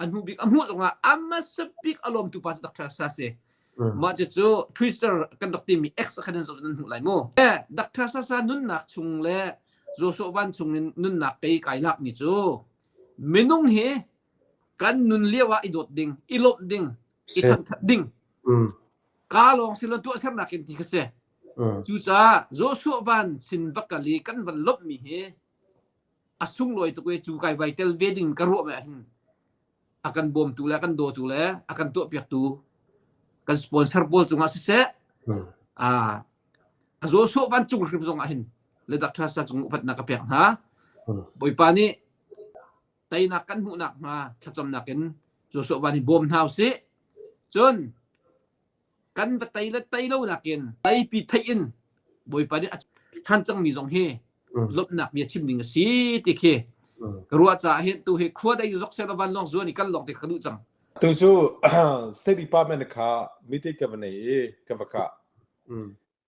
a hnu bik a hmuh zongah a hmasa bik a lawmtu pa cu Dr. Sa si. Mm. Mah cucu Twister kan rak timi X khan in zoh nan hmuh lai mu. Eh, Dr. Sasa nunnak chung le Joshua Van chung in nunnak kei kai lakmi cu minung hi kan nun lio ah i dawt ding, i lawmh ding, i thangthat ding, mm. ka lawng si lo tuah sernak in ti ka si. Mm. Cucaah Joshua Van sin va kal i kan van lawmhmi hi a sunglawi tuk i cu kai vai tel ve ding ka ruah me hin a kan bawmtu le a kan dawtu le a kan tuahpiaktu kan sponsor pawl cungah siseh a a zaw sawh van cung hrim zong ah hin le dak thasa cung upatnak ka pek hna bawipa nih teinak kan hmuhnak hnga thlacamnak in zaw sawh van i bawm hna usih cun kan va tei le tei lo nakin teipi theih in Bawipa nih a than cangmi zong hi lomhnak bia chim ding a si ti khi ka ruah caah hin tu hi khua dei zok se van long zuan i kan long te ka duh cang tu cu state department kha meeting ka va nei i ka va ka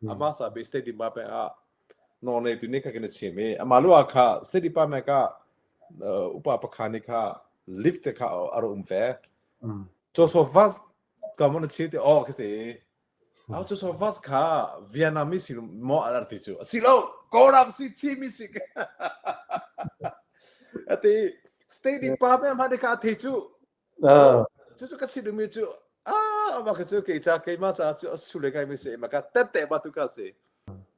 hmm. ama sa be stadium ba pe a no nei tu ni ka ken che me ama lo kha stadium pa me ka upa pakhani kha lift te kha aro um fe cho so vas ka mon che te o ke te au cho so vas kha vietnamese si mo alar ti chu si lo korap si chi mi si ate stadium pa me ma de ka the chu Cucu ka thinlungmi cu ah ma ka cu kei ca keimah caah cu sule ngaimi si ma ka tette ba tu ka si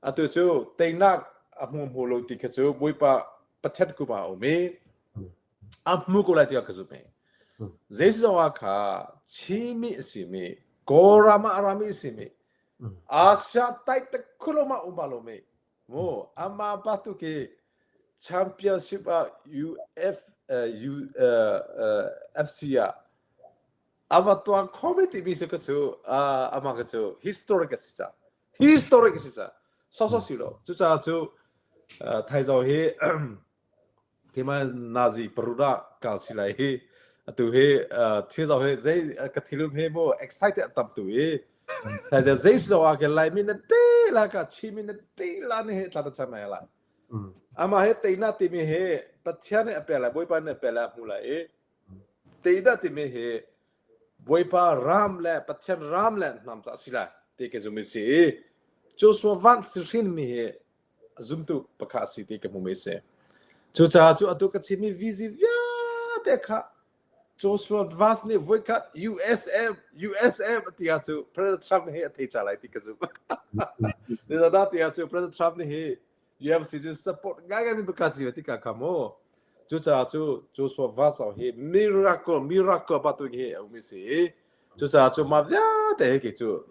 atu cu teinak a hmu hmu lo ti kha cu Bawipa Pathian kuma a um i a hmu ko lai ti ka zumh i Jesuh zongah kha chimi a simi Kawlram ah a rami a simi Asia tai te khulum ah um ba lomi Amah bantuk hi championship ah FC ah a va tuan khomi timi cu ka cu amah ka cu historic a si ca historic a si ca sawsawh si lo cucaah cu thaizo hi keimah nazi parut ah kal si lai hi atu hi thil zong hi zei ka thilum he mo excited tam tu i taja zei si zong ah ke lai mi na te la ka chi mi na te la ni he tla ta cham la ama he teina ti mi he pathian ne ape lai boipa ne ape lai mu lai i teina ti mi he boipa ram le pathian ram le nam ta si lai te ke zumi si cu so van si hrin mi he a zumtu pakhat a si ti ka hmu mi a si. Cucaah cu atu ka chim mi vizi vialte kha Joshua Vance nih voi khat USM USM a ti ah cu President Trump hi a thei ca lai ti ka zumh. Nizana ti ah cu President Trump nih hi UMC cu support ngai mi pakhat si ti ka kha mu. Cucaah cu Joshua Vance hi miracle miracle ba tu hi a um mi si. Cucaah cu ma vialte hi kei cu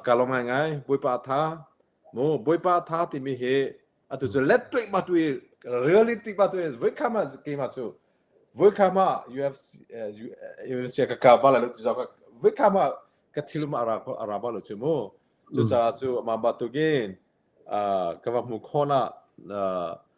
ka lawm ngai ngai. Bawipa tha mu bawipa tha timi hi atu cu let tuik ma tu really tuik ma tu voi khama keima cu voi khama UFC UFC ka ka ba la lu tu zo ka voi khama ka thil ma ara ko ara ba lu chu mu chu cha chu ma ba tu gin ka va mu khona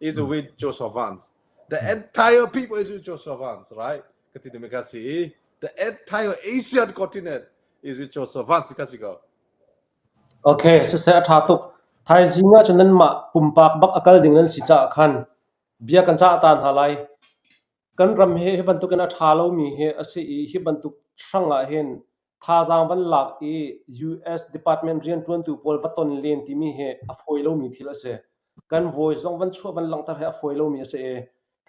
is a win Joseph Vance. The entire people is with Joseph Vance, right? Kati ni kasi. The entire Asian continent is with Joseph Vance kasi ko. Okay, so se atha tuk. Thai zinga chu nan ma pumpak bak akal ding nan si cha khan. Bia kan cha tan ha lai. Kan ram he he bantukin atha lo mi he ase i he bantuk shranga hen Thazaang van lak i US department rianṭuantu pawl va ton len timi hi a fawi lomi thil a si. Kan voice zong van chuah van langhter hi a fawi lomi a si i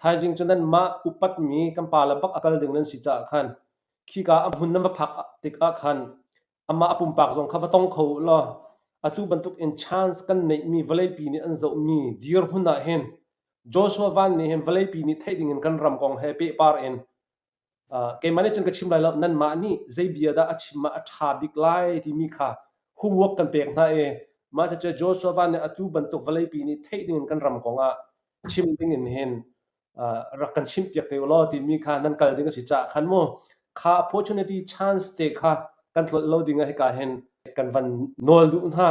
thaizing cu nanmah upatmi kan pa le bak a kal ding nan si caah khan khika a hmun nan va phak tikah khan amah a pumpak zong kha va tong kho u law atu bantuk in chance kan neihmi vawleipi nih an zohmi dirhmun ah hin Joshua Van nih hin vawleipi nih theih dingin kan ram kong he pehpar in keimah nih cun ka chim lai lo nanmah nih zei bia dah a chim ah a ṭha bik lai timi kha homework kan pek hna i mah cucu Joshua van nih atu bantuk vawleipi nih theih dingin kan ram kongah chim dingin hin rak kan chimh piak te u law timi kha nan kal ding a si caah khan mu kha opportunity chance te kha kan tlolh lo ding ah hika hin kan van nawl duh hna